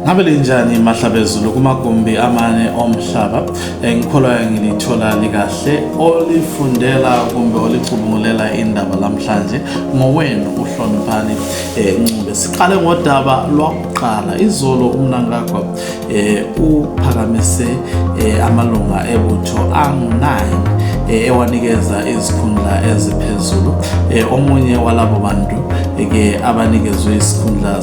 ngabe linjani mahlabezulu kumagumbi amane omhlaba eh, ngikholwa ngilithola likahle olifundela kumbe olicubungulela indaba lamhlanje ngowenu uhloniphani eh, ncube siqale ngodaba lwakuqala izolo umnankagwa eh, uphakamise amalunga ebutho angu-9 ewanikeza izikhundla eziphezulu omunye walabo bantu ke abanikezwe isikhundla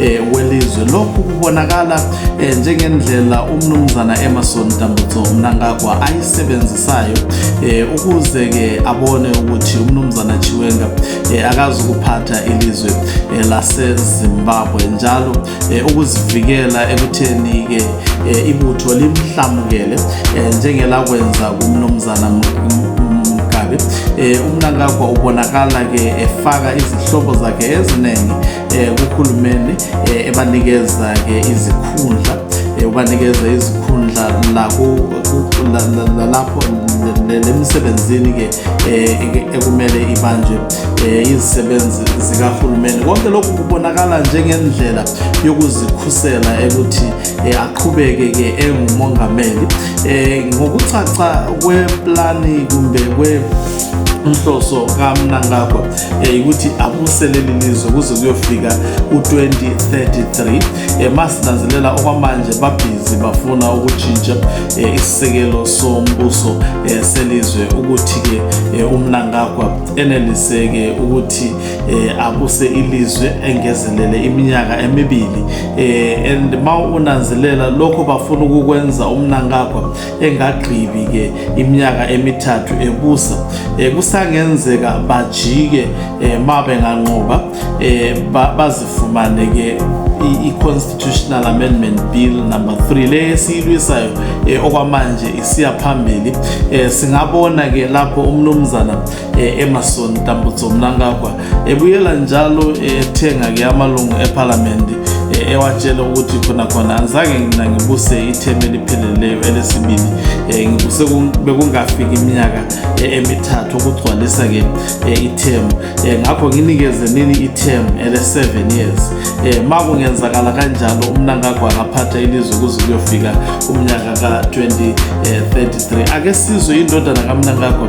eh, welizwe lokhu kubonakala eh, njengendlela umnumzana Emerson Dambutso Mnangagwa ayisebenzisayo eh, ukuze ke abone ukuthi umnumzana Chiwenga eh, akazi ukuphatha ilizwe eh, lase Zimbabwe njalo eh, ukuzivikela ekutheni ke eh, ibutho limhlamukele eh, njengelakwenza kumnumzana Mgabe eh, umnangagwa ubonakala ke efaka izihlobo zakhe eziningi um kuhulumeni um ebanikeza-ke izikhundla um ubanikeza izikhundla lalapho lemisebenzini-ke um ekumele ibanjwe um izisebenzi zikahulumeni konke lokhu kubonakala njengendlela yokuzikhusela ekuthi um aqhubeke-ke engumongameli um ngokucaca kweplani kumbe kwe inhloso kamnangagwa yayikuthi abuse leli lizwe kuze kuyofika u-2033 um eh, masinanzelela okwamanje babhizi bafuna ukutshintsha um isisekelo sombuso um selizwe ukuthi-ke um umnangagwa eneliseke ukuthi um abuse ilizwe engezelele iminyaka emibili um and ma unanzelela lokho bafuna ukukwenza umnangagwa engagqibi-ke iminyaka emithathu ebusa um kusangenzeka bajike um ma benganqoba um bazifumane-ke i-constitutional amendment bill number 3 le esiyilwisayo um okwamanje isiya phambili um singabona-ke lapho umnumzana eh, Emerson Tambutso Mnangagwa ebuyela njalo ethenga ke amalungu eParliament eh, ewatshela ukuthi khona khona angizange ngina ngibuse ithemu elipheleleyo elesibili eh, ngibuse bekungafiki iminyaka emithathu ukugcwalisa ke ithemu ngakho nginikeze nini ithemu ele-seven years um ma kungenzakala kanjalo umnangagwa angaphatha ilizwe kuze kuyofika umnyaka ka-2033 ake sizwe indodana kamnangagwa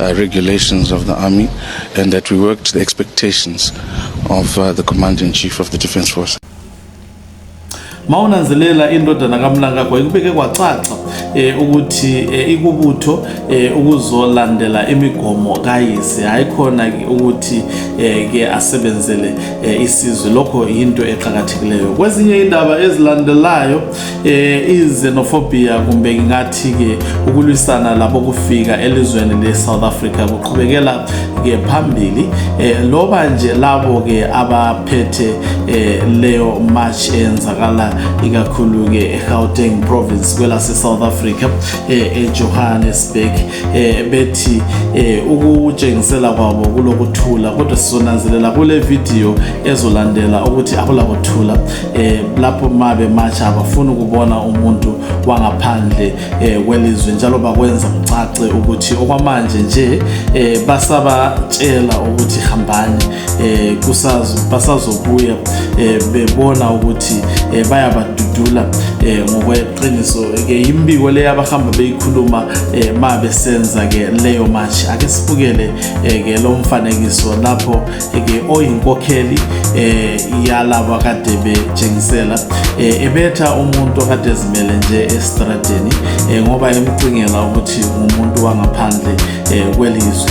Uh, regulations of the army and that we work to the expectations of uh, the commander in chief of the defense force mawunanzelela indodana kamlangagwa ikubeke kwacaca eh ukuthi eh, ikubutho eh, ukuzolandela imigomo kayise hayi khona ukuthi eh, ke asebenzele eh, isizwe lokho yinto eqhakathekileyo kwezinye indaba ezilandelayo eh izenophobia kumbe ngingathi ke ukulwisana labo kufika elizweni le South Africa kuqhubekela ke phambili eh loba nje labo ke abaphethe eh leyo march enzakala ikakhulu ke eGauteng province kwela se South Africa eh eJohannesburg eh, bethi eh, ukutshengisela kwabo kulokuthula kodwa sizonanzelela kule video ezolandela ukuthi akulakuthula eh, lapho ma bematsha abafuni ukubona umuntu wangaphandle eh, kwelizwe njalo bakwenza kucace ukuthi okwamanje nje eh, basabatshela ukuthi hambani eh kusazo basazobuya eh bebona ukuthi eh bayabadudula eh ngokweqiniso ke imbiko le abahamba beyikhuluma eh ma besenza ke leyo match ake sibukele eh, ke lo mfanekiso lapho eh, ke oyinkokheli eh yalabo kade betshengisela eh ebetha umuntu kade zimele nje estradeni eh ngoba emcingela ukuthi umuntu wangaphandle eh kwelizwe